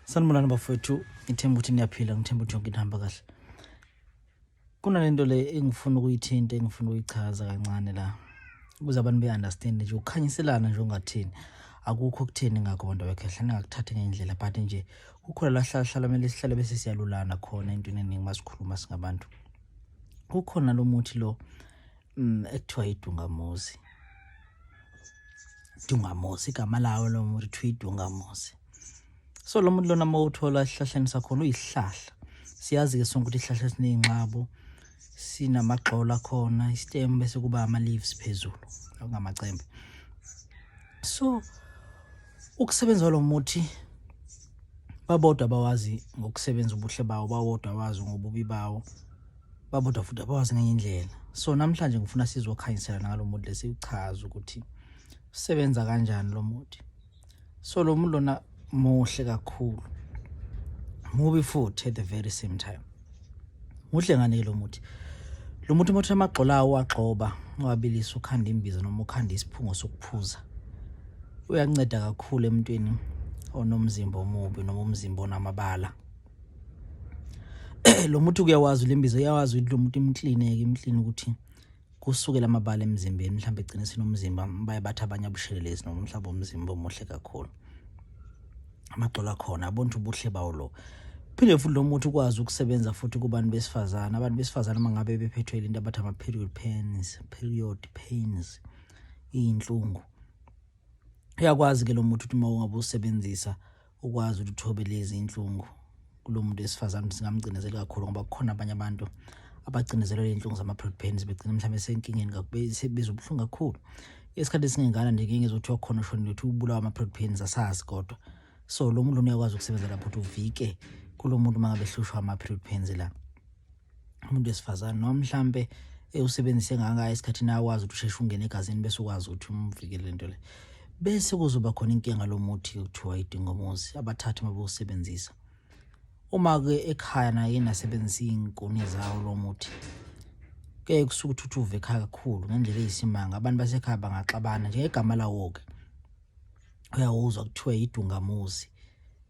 sanibonani bafowethu ngithemba ukuthi niyaphila ngithemba ukuthi yonke into ihamba kahle kunalento le engifuna ukuyithinta engifuna ukuyichaza kancane la ukuze abantu be-understand nje ukukhanyiselana nje ungathini akukho okutheni ngakho bantu abekhehle ningakuthathi ngendlela but nje kukhona lahlahlala kumele sihlale bese siyalulana khona entweni eningi masikhuluma singabantu kukhona lo muthi lo mm ekuthiwa idungamuzi dungamuzi igama lawo lo muntu kuthiwa idungamuzi so lo muntu lona uma uthola esihlahleni sakhona uyihlahla siyazi-ke sonke ukuthi isihlahla esineyinxabo sinamagxolo akhona isitem bese kuba ama-leaves phezulu okungamacembe so ukusebenza kwalo muthi babodwa bawazi ngokusebenza ubuhle bawo bawodwa bawazi ngobubi bawo babuda futhi abawazi ngenye indlela so namhlanje ngifuna sizokhanyisela nalo muthi lesichaza ukuthi usebenza kanjani lo muthi so lo muthi lona muhle kakhulu mubi futhi at the very same time muhle ngani lo muthi lo muthi umuthi amagxola awo agxoba wabilisa ukhanda imbiza noma ukhanda isiphungo sokuphuza uyanceda kakhulu emntwini onomzimba omubi noma umzimba onamabala lo muthi kuyawazi lembizo uyawazi ukuthi lo muthi imklineke imklini ukuthi kusukela amabala emzimbeni mhlawumbe egcine sinomzimba baye bathi abanye abushelelezi noma mhlawumbe umzimba omuhle kakhulu amagxolo akhona abona ukuthi ubuhle bawo lo phinde futhi lo muthi ukwazi ukusebenza futhi kubantu besifazane abantu besifazane uma ngabe bephethwe into abathi ama-period pains period pains iyinhlungu uyakwazi ke lo muthi ukuthi uma ungabe usebenzisa ukwazi ukuthi uthobe lezi inhlungu kulo muntu wesifazane ukuthi singamcinezeli kakhulu ngoba kukhona abanye abantu abacinezelwe ley'nhlungu zama-prod pains begcina mhlawumbe senkingeni bezwa ubuhlungu kakhulu isikhathi esingengana nje ngeke ngizothiwa khona ushonile ukuthi ubulawa ama-prod pains asazi kodwa so lo muntu lona uyakwazi ukusebenza lapho ukuthi uvike kulo muntu uma ngabe hlushwa ama-period pains la umuntu wesifazane noma mhlampe usebenzise ngaka esikhathini akwazi ukuthi usheshe ungene egazini bese ukwazi ukuthi umvikele lento le bese kuzoba khona inkinga lomuthi okuthiwa idingomuzi abathathu mabewusebenzisa uma ke ekhaya naye nasebenzisa izinkuni zawo lomuthi ke kusuka uthuthuva ekhaya kakhulu ngendlela eyisimanga abantu basekhaya bangaxabana njengegama lawo ke uyawuzwa kuthiwa idungamuzi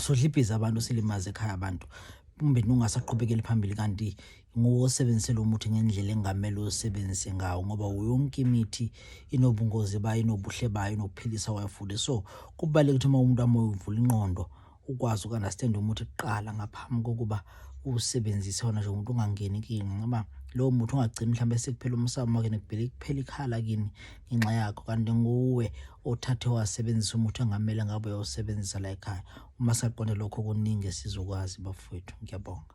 sodlibhiza abantu silimaze ekhaya abantu kumbe nungasaqhubekeli phambili kanti nguwo osebenzisela umuthi ngendlela engamele usebenzise ngawo ngoba yonke imithi inobungozi bayo inobuhle bayo inokuphilisa kwayo futhi so kubaluleke ukuthi uma umuntu amoya uvula inqondo ukwazi uku-understand umuthi kuqala ngaphambi kokuba usebenzise wona nje umuntu ungangeni kini ngoba lowo muthi ungagcini mhlawumbe sekuphela umsamo wakini kuphela ikhala kini ngenxa yakho kanti nguwe othathe wasebenzisa umuthi ongamele ngabe uyawusebenzisa la ekhaya uma saqonde lokho kuningi esizokwazi bafowethu ngiyabonga